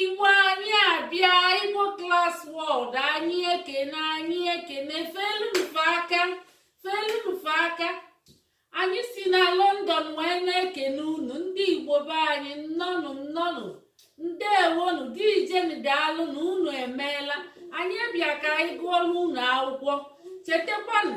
igbo anyị abịa igbo class world anyị ekene anyị ekene feelu m fa aka feelu m fa aka anyị si na london wee na-ekene unu ndị igbo be anyị nnọnụ nnọnụ ndewonu deejenụ daalụnụ unu emeela anyị bịa ka anyị gụọlụ unu akwụkwọ chetakwanụ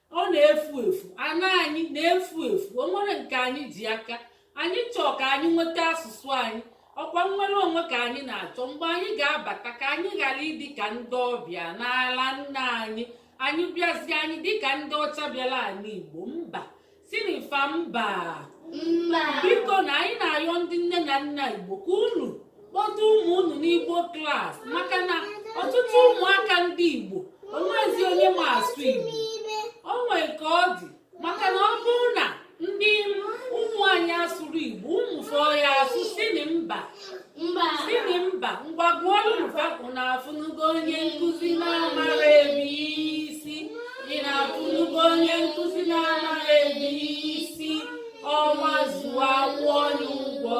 ọ na-efu efu ana anyị na-efu efu o nwere nke anyị ji aka anyị chọọ ka anyị nweta asụsụ anyị ọ kwa nnwere onwe ka anyị na-achọ mgbe anyị ga-abata ka anyị ghara ịdị ka ndị ọbịa n'ala nna anyị anyị bịazie anyị dịka ndị ọcha bịara ala igbo mba sịnụ fa mba bikonụ anyị na-ayọ ndị nne na nna igbo ka unu kpọta ụmụ unu n'igbo class maka na ọtụtụ ụmụaka ndị igbo o nwezi onye ma asụ igbo o nwee ka ọ dị maka na ọ bụrụ na ndị ụmụ anyị asụrọ igbo ụmụ fa ọ ya-asụ sịnụ mba sịnụ mba ngwa gụọlụ fa unu afụnugo onye nkụzi na-amarọ abc unu afụnugo onye nkụzi na-amarọ abc ọnwa zuo a kwụọ ya ụgwọ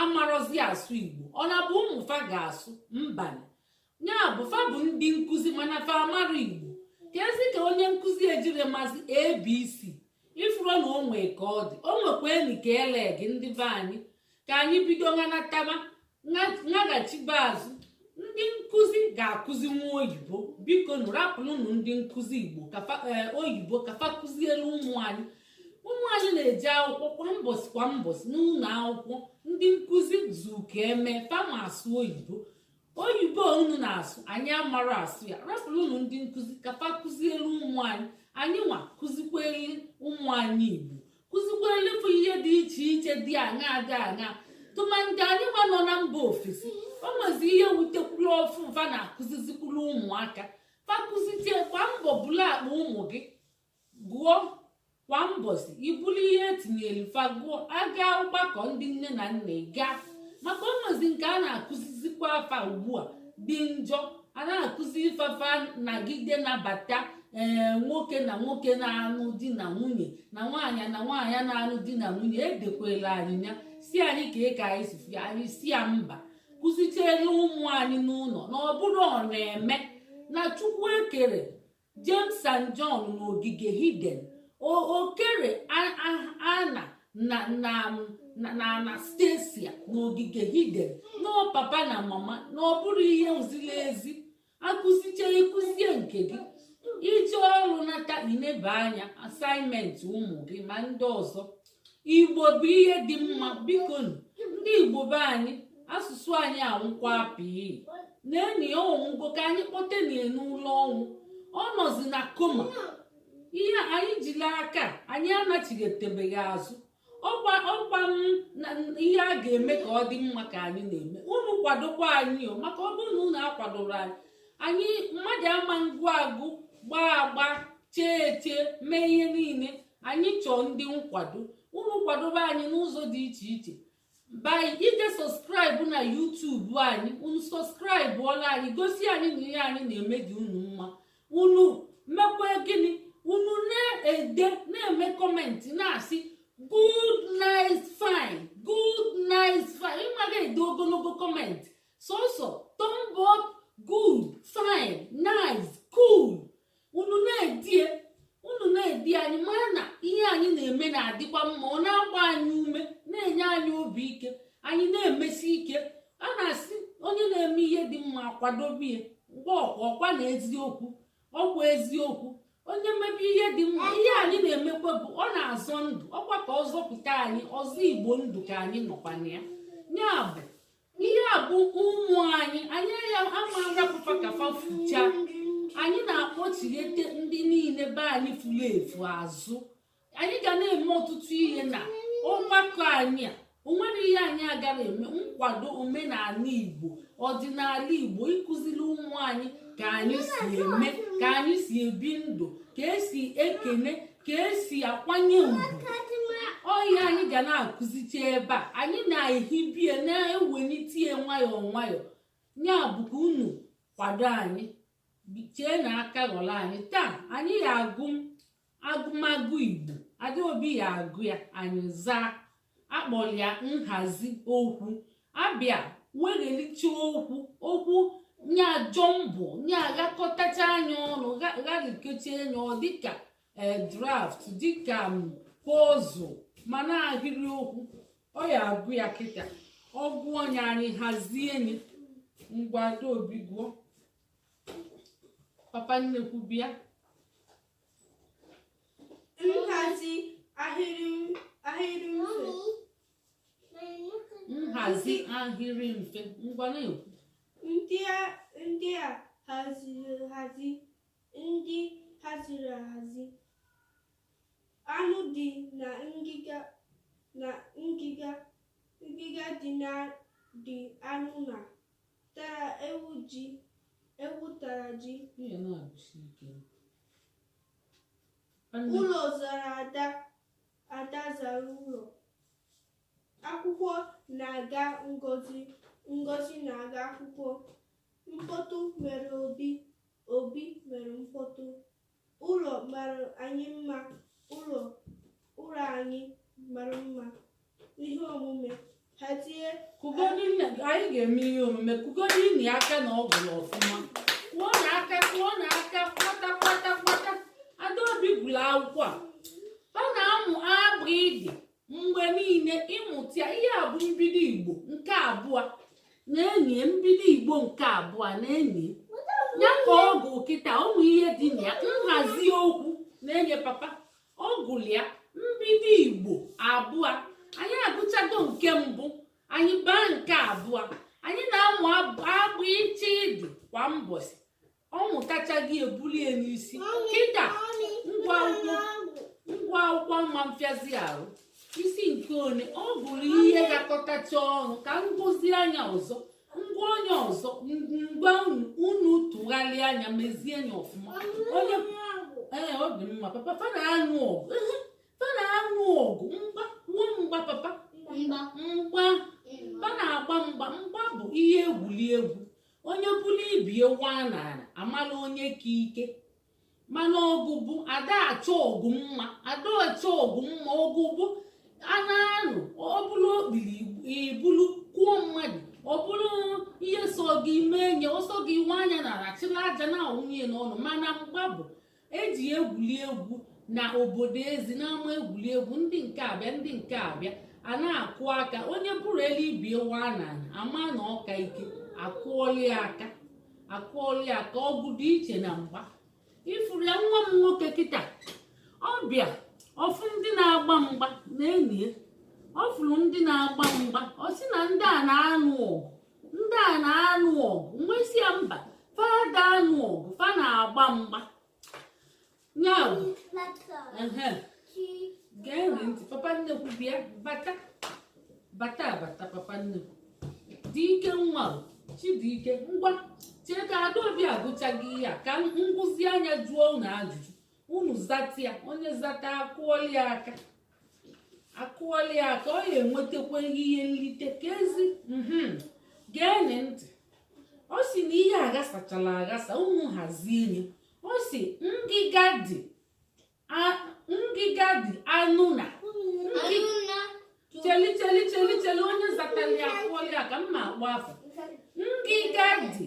amarọzi asụ igbo ọ na-abụ ụmụ fa ga-asụ mba ya bụ fa bụ ndị nkụzi mana fa amarọ igbo keezi ka onye nkụzi ejirọ mazi abc ị fụrọ na o nwe ka ọ dị o nwekwa enyi ka ele gị ndị be anyị ka anyị bido ngwa nataba naghachibe azụ ndị nkụzi ga-akụzinwu oyibo bikonụ rapụlụnụ ndị nkụzi igbo e, oyibo ka fa kụzielu ụmụ anyị ụmụ anyị na-eje akwụkwọ kwa mbọsị kwa mbọsị n'ụlọ akwụkwọ ndị nkụzi zuka eme fa ma asụ oyibo oyibo unu na-asụ anyị amarọ asụ ya rapụrụnụ ndị nkụzi ka fa kụzielu ụmụ anyị anyị nwa kụzikweli ụmụ anyị igbo kụzikweli fa ihe dị iche iche dị aṅa dị aṅa tụmadị anyị nwa nọ na mba ofesi o nwezi ihe wetekwuru ọfụụ fa na-akụzizikwuru ụmụaka fa kụzichie kwa mbọ bulu akpa ụmụ gị gụọ kwa mbọsị i bulu ihe e tinyere fa gụọ a gaa ọgbakọ ndị nne na nna ị gaa maka o nwezi nke a na-akụzizikwa fa ugbu a dị njọ a na-akụzi sị fa fa nagide nabata ee nwoke na nwoke na-anụ di na nwunye na nwaanyị na nwaanyị na-anụ di na nwunye e dekwelu anyị ya sị anyị kee ka anyị si fụ ya anyị sị ya mba kụzichielu ụmụ anyị n'ụlọ na ọ bụrọ ọ na-eme na chukwu ekerọ James and John n'ogige Eden o kerọ anna na anastasia n'ogige Eden na ọ papa na mama na ọ bụrọ ihe ziri ezi a kụzichaa ị kụzie nke gị i jee ọrụ nata i neba anya assignment ụmụ gị ma ndị ọzọ igbo bụ ihe dị mma biko ndị igbo be anyị asụsụ anyị anwụkwa pii na enyi ya ọnwụgo ka anyị kpọte ya n'ụlọ ọnwụ ọ nọzi na koma ihe anyị jiri aka anyị anachighetebe ya azụ ọkwa ọkwa ihe a ga-eme ka ọ dị mma ka anyị na-eme unu kwadokwa anyị maka ọ bụrụ na unu akwadoro anyị anyị mmadụ ama ngụ agụ gbaa agba chee eche mee ihe niile anyị chọọ ndị nkwado unu kwadobe anyị n'ụzọ dị iche iche by ije subscribe na youtube anyị unu subscribe ọla anyị gosi anyị na ihe anyị na-eme dị unu mma unu mekwa gịnị unu na-ede na-eme comment na-asị good nice fine good nice fine ị ma ga-ede ogologo comment sọsọ thumb up good fine nice cool unu na-ede ya unu na-ede ya anyị mara na ihe anyị na-eme na-adịkwa mma ọ na-agba anyị ume na-enye anyị obi ike anyị na-emesi ike a na-asị onye na-eme ihe dị mma akwadobe ya ngwa ọkwa ọkwa na eziokwu ọkwa eziokwu onye mebe ihe dị mma ihe anyị na-emekwa bụ ọ na-azọ ndụ ọkwa ka ọ zọpụta anyị ọzọ igbo ndụ ka anyị nọkwana ya ya bụ ihe a bụ ụmụ anyị anyị ya ama arapụ fa ka fa fucha anyị na-akpọchighete ndị niile be anyị furu efu azụ anyị ga na-eme ọtụtụ ihe na ọgbakọ anyị a onwere ihe anyị agara eme nkwado omenala igbo ọdịnala igbo ịkụziri ụmụ anyị ka anyị si eme ka anyị si ebi ndụ ka esi ekene ka esi akwanye ugwu ọ ya anyị ga na-akụzicha ebe a anyị na-ehibie na-ewelite ya nwayọọ nwayọọ ya bụ ka unu kwado anyị chee na aka ghọrọ anyị taa anyị ya agụ agụmagụ igbo adaobi ya agụ ya anyị zaa akpọrọ ya nhazi okwu abịa weghelicha okwu okwu nya jumble nya aghakọtacha nya ọnụ gharikecha nya ọ dịka eh, draft dịka mm, puzzle mana ahịrị okwu ọ ya agụ ya kịta ọ gụọ ya anyị hazie nya ngwa adaobi gụọ papa nnekwu bịa nhazi ahịrị ahịrị mfe nhazi ahịrị mfe ngwa na-ekwu ndị a ndị a haziri ahazi ndị haziri ahazi anụ dị na ngịga na ngịga ngịga dị na dị anụ na tara ewu ji ewu tara ji ihe na-agụsi ike Nwanne- ụlọ zara ada ada zara ụlọ akwụkwọ na-aga ngozi ngozi na-aga akwụkwọ mkpọtụ mere obi obi mere mkpọtụ Ụlọ mara anyị mma ụlọ anyị mara mma ihe omume hazie kụgodi nne gị anyị ga-eme ihe omume kụgodinụ ya aka na ọ gụrụ ọfụma kụọnụ aka kụọnụ aka kwata kwata kwata adaobi gụrụ akwụkwọ a ọ na-amụ abịdịị mgbe niile ịmụta ya ihe a bụ mbido igbo nke abụọ na-enye mbido igbo nke abụọ na-enye ya ka ọ gụọ kịta ụmụ ihe dị na ya nhazi okwu na-enye papa ọ gụrụ ya mbido igbo abụọ anyị agụchago nke mbụ anyị baa nke abụọ anyị na-amụ abịchịdịị kwa mbọchị ọ mụtachaghị ebuli ya n'isi kịta ngwa akwụkwọ ngwa akwụkwọ ma mpịazi arụ isi nke one ọ bụrụ ihe gakọtacha ọnụ ka m gụzie nya ọzọ ngwa onye ọzọ ngwa unu tụgharịa nya mezie nya ọfụma onye ee ọ dị mma papa fa na-anụ ọgụ ehe, fa na-anụ ọgụ mgba nwa mgba papa mgba mgba fa na-agba mgba mgba bụ ihe egwuri egwu onye bulu ibe ya waa n'ala a mala onye ka ike mana ọgụ bụ ada achọ ọgụ mma ada achọ ọgụ mma ọgụ bụ a na-anụ ọ bụrụ okpiri i bulu kụọ mmadụ ọ bụrụ ihe sọ gị mee nya ọ sọ gị waa nya n'ana chịlị aja na-awụnye n'ọnụ mana mgba bụ eji egwuli egwu na obodo ezi n'ama egwuregwu ndị nke abịa ndị nke abịa a na-akụ aka onye buru elu ibe ya wụa n'ana a ma na ọ ka ike a kụọlụ ya aka a kụọlụ ya aka ọgụ dị iche na mgba ị fụrụ ya nwa m nwoke kịta ọ bịa ọ fụ ndị na-agba mgba na enyi ya ọ fụrụ ndị na-agba mgba ọ sị na ndị a na-anụ ọgụ ndị a na-anụ ọgụ m wee sị ya mba fa ada anụ ọgụ fa na-agba mgba ya bụ gee ntị papa nnekwu bịa bata bata bata papa nnekwu dị ike nwa chidike ngwa chee ka adaobi agụchaghị ihe a ka m gụzie nya jụọ unu ajụjụ unu zata ya onye zata a kụọlụ ya aka a kụọli ya aka ọ ya-enwetakwa ihe nlite ka ezi mhm. geenị ntị ọ sị na ihe aghasachala aghasa unu hazie ya ọ sị ngịga dị ngịga dị anụ na cheli cheli cheli cheli onye zatali ya a kụọli ya aka m ma-akpọ afa ngịga dị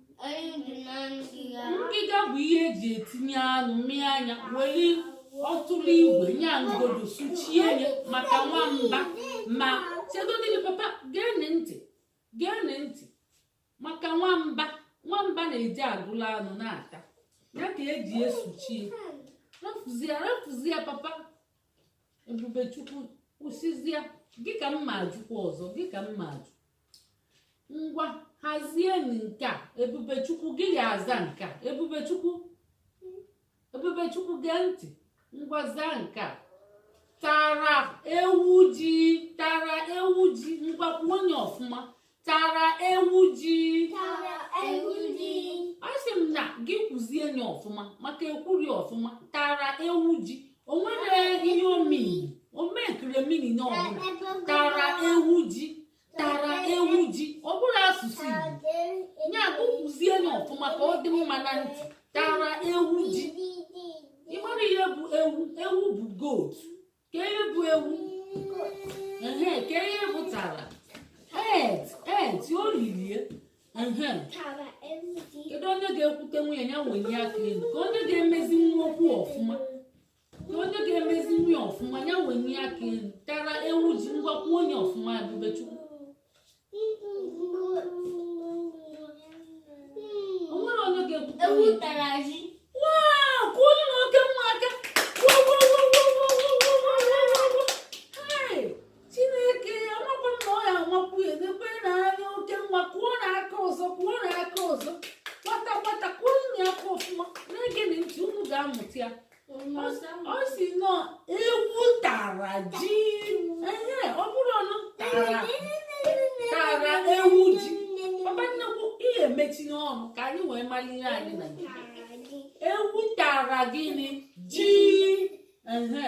ngịga bụ ihe e ji etinye anụ mịa nya weli ọtụrụ igwe nya ngodo suchie ya maka nwamba ma chegodili papa geenị ntị geenị ntị maka nwamba nwamba na-eji agụla anụ na-ata ya ka e ji esuchi rafụzie rafụzie papa ebubechukwu kwụsịzie gị ka m ma-ajụkwa ọzọ gị ka m ma-ajụ ngwa hazie nke a ebubechukwu gị ya-aza nke a ebubechukwu ebubechukwu gee ntị ngwa zaa nke a tara ewu ji tara ewu ji ngwa kwuo nye ọfụma tara ewu ji tara ewu ji asị m na gị kwuzie nye ọfụma maka ekwuri ọfụma tara ewu ji o nwere ihe omii omekremini na ọbụla tara ewu ji tara ewu ji ọ bụrọ asụsụ Igbo nye aka kwuzie nye ọfụma ka ọ dị mma na ntị tara ewu ji ị mara ihe bụ ewu ewu bụ goat kee ihe bụ ewu ehe kee ihe bụ tara ate ate o lilie kedu onye ga-ekwutenwu nye ya wenye aka elu kee onye ga-emezinwu okwu ọfụma kee onye ga-emezinwu nye ọfụma ya wenye aka elu tara ewu ji ngwa kwuo nye ọfụma ebubechukwu o nwere onye ga-ekwutenwu nye chineke amakwa m na ọ ya amakwu ya edekwe na anya oke nwa kụọnụ aka ọzọ kụọnụ aka ọzọ kwata kwata kụọnụ ya aka ọfụma na-egenị ntị unu ga-amụta ya ọ sị na ewu tara ji ehe ọ bụrọnụ tara tara ewu ji papa nnekwu ihe mechienụ ọnụ ka anyị wee mara ihe anyị na ewu tara gịnị ji ehe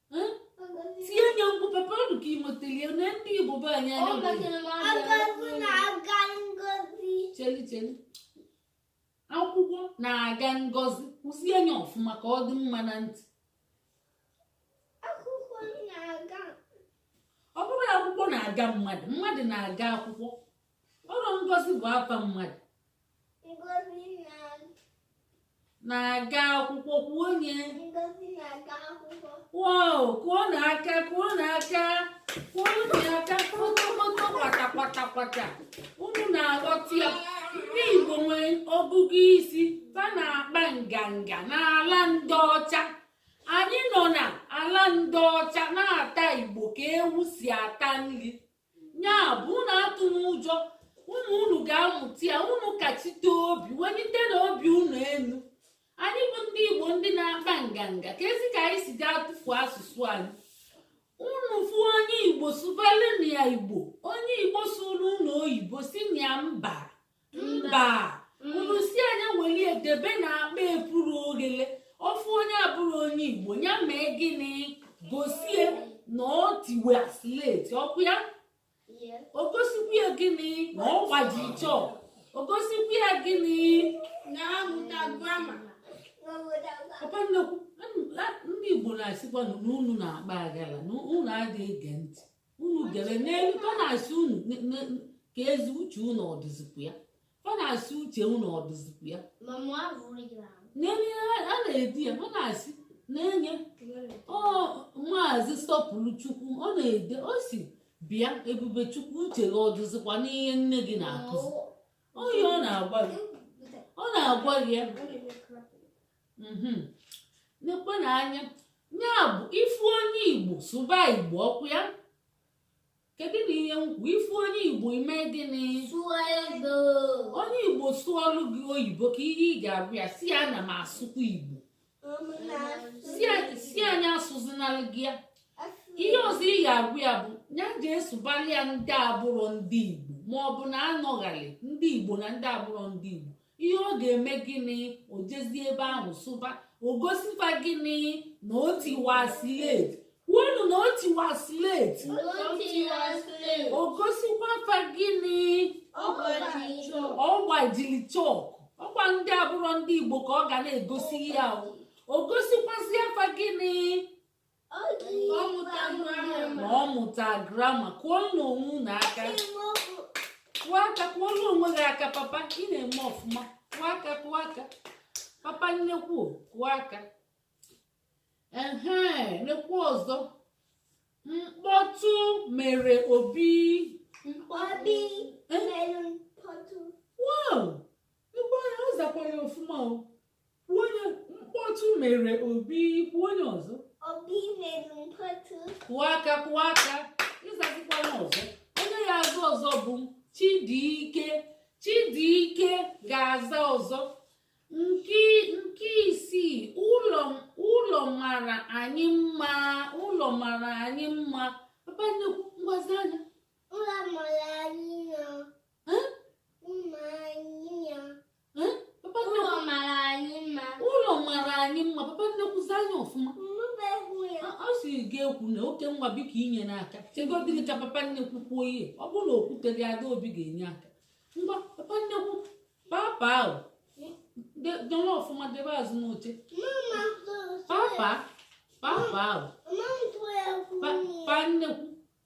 tie nye mkpu papa ọ dị ka imotelie na ndị igbo be anyị anya cheli cheli akwụkwọ na-aga ngozi kwuzie nye ọfụma ka ọ dị mma na ntị ọ bụrọ akwụkwọ na-aga mmadụ mmadụ na-aga akwụkwọ ọrụ ngozi bụ afa mmadụ na-aga akwụkwọ kwuo onye wow kụọnụ aka kụọnụ aka kụọnụ aka kpọtọkpọtọ kwata kwata kwata unu na-aghọta ya ndị Igbo nwere ọgụgụ isi fa na-akpa nganga n'ala ndị ọcha anyị nọ na ala ndị ọcha na-ata Igbo ka ewu si ata nri ya bụ unu atụna ụjọ unu unu ga-amụta ya unu kachite obi welitenụ obi unu elu anyị bụ ndị igbo ndị na-akpa nganga kezi ka anyị si ga-atụfu asụsụ anyị unu fụ onye igbo sụbalụnụ ya igbo onye igbo sụọrụ unu oyibo sịnụ ya mba mba unu sị ya nya were ya debe na akpa epuru oghele ọ fụ onye abụrọ onye igbo ya mee gịnị gosi ya na ọ tiwa slate ọkwa ya o gosikwa ya gịnị na ọ gbaji chọk o gosikwa ya gịnị na ọ mụta grama papa nnekwu ndị igbo na-asịkwa na unu na-akpa aghala na unu adịghị ege ntị unu gere n'elu fa na-asị unu kezi uche unu ọ dịzikwa ya fa na-asị uche unu ọ dịzikwa ya n'elu ihe a na-ede ya ọ na-asị nenye maazị sọpụrụchukwu ọ na-ede ọ sị bịa ebubechukwu uche gị ọ dịzikwa n'ihe nne gị na-akụzi ọ ihe ọ na-agwa gị ọ na-agwa gị ya mhm. nekwanụ anya ya bụ ị fụ onye igbo sụba igbo ọkwa ya kedụnụ ihe m kwu ị fụ onye igbo i mee gịnị onye igbo sụọlụ gị oyibo kee ihe ị ga-agwa ya sị ya na m asụkwa igbo sị ya nya asụzinalụ gị ya ihe ọzọ ị ga-agwa ya bụ ya je sụbalụ ya ndị abụrọ ndị igbo ma ọ bụ na anọghali ndị igbo na ndị abụrọ ndị igbo ihe ọ ga-eme gịnị o jezie ebe ahụ sụba o gosi fa gịnị na o tiwa slate kwuonụ na o tiwa slate o gosikwa fa gịnị ọ gbajiri chọk ọkwa ndị abụrọ ndị igbo ka ọ ga na-egosi ya o gosikwazịa fa gịnị na ọ mụta grama kụọnụ onwe unu aka kụọ aka kụọlụ onwe gị aka papa ị na-eme ọfụma kụọ aka kụọ aka papa nnekwu kụọ aka ehe nekwa ọzọ mkpọtụ mere obi mkpọbi eh? mere mkpọtụ wow ebe ọ zakwara ọfụma o Kwuo onye mkpọtụ mere obi kwuo onye ọzọ obi mere mkpọtụ kụọ aka kụọ aka ịzazikwa onye ọzọ onye ya-aza ọzọ bụ Chidiike Chidiike ga-aza ọzọ nke nke isii ụlọ ụlọ mara anyị mma ụlọ mara anyị mma papa nnekwu ngwa zaa anyị ụlọ mara anyị mma ụlọ mara anyị mma ụlọ mara anyị mma papa nnekwu zaa anyị ọfụma ọ sị gị ekwuna okay ngwa biko enyena aka chegodinụ ka papa nnekwu kwuo ihe ọ bụrụ na o kwuterọ ya Adaobi ga-enye aka ngwa papa nnekwu papa ahụ dọrọ ọfụma debe azụ n'oche papa papa ahụ pa nnekwu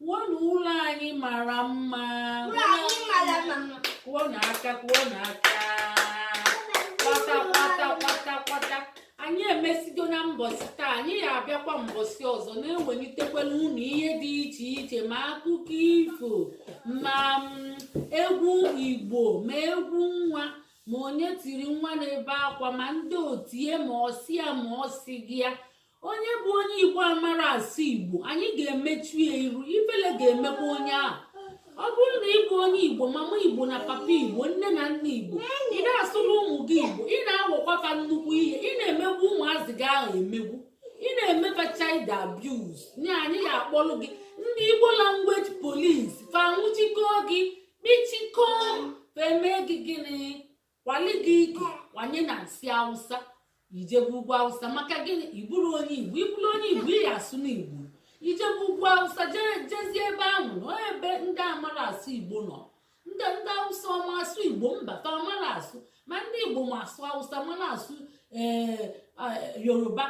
Kwuonụ ụlọ anyị mara mma. Ụlọ anyị mara mma. Kụọnụ aka, kụọnụ aka. Kwata, kwata, kwata, kwata. Anyị emesigo na mbọsị taa, anyị ya-abịakwa mbọsị ọzọ na-ewelitekwalụ unu ihe dị iche iche ma akụkọ ifo ma mm, egwu Igbo ma egwu nwa ma onye tiri nwa na-ebe akwa ma ndị otie ma ọsịa ma ọsị gị ya onye bụ onye igbo amarọ asụ igbo anyị ga-emechu ya iru ifele ga-emekwa onye ahụ ọ bụrụ na ị bụ onye igbo mama igbo na papa igbo nne na nna igbo ị na-asụrụ ụmụ gị igbo ị na-awọkwa fa nnukwu ihe ị na-emegbu ụmụazị gị ahụ emegbu ị na-eme fa child abuse na anyị ya-akpọrọ gị ndị igbo language police fa nwụchikọọ gị kpichikọọ fa emee gị gịnị kwali gị ike kwanye na nsị awụsa i jebe ugwu awụsa maka gịnị ị bụrụ onye igbo ị bụrụ onye igbo ị ya-asụnụ igbo i jebe ugwu awụsa jezie ebe ahụ nọ ebe ndị amarọ asụ igbo nọ ndị ndị awụsa ọ ma asụ igbo mba fa amarọ asụ ma ndị igbo ma asụ awụsa mara asụ ee eh, eh, yoruba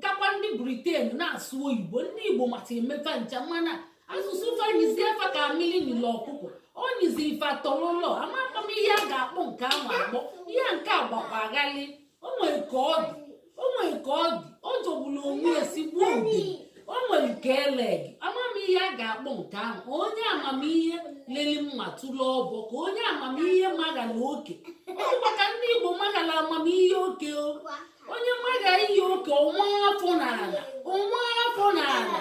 kakwa ndị briten na-asụ oyibo ndị igbo mata eme fa ncha mana asụsụ fa nyizie fa ka mmiri nyili ọkụkọ o nyiziri fa tọlọlọ amakwa m ihe a ga-akpọ nke ahụ akpọ ihe nke a gbakwa ghalịị o nwere ka ọ dị o nwere ka ọ dị ọ jọgburu onwe ya esigbuo ogiri o nwere nke ele gị amamihe a ga-akpọ nke ahụ onye amamihe leli mma tụrụ ọbọ ka onye amamihe magala oke ọ dịkwa ka ndị igbo magala amamihe oke o onye maga ihe oke ọ waa afọ n'ala ọ waa afọ n'ala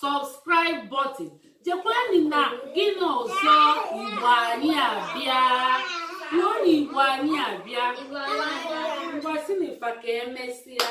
subscribe button jekwani na gịnị ọzọ igbo anyị abịa ruo na igbo anyị abịa ngwa sịnị fa ka emesịa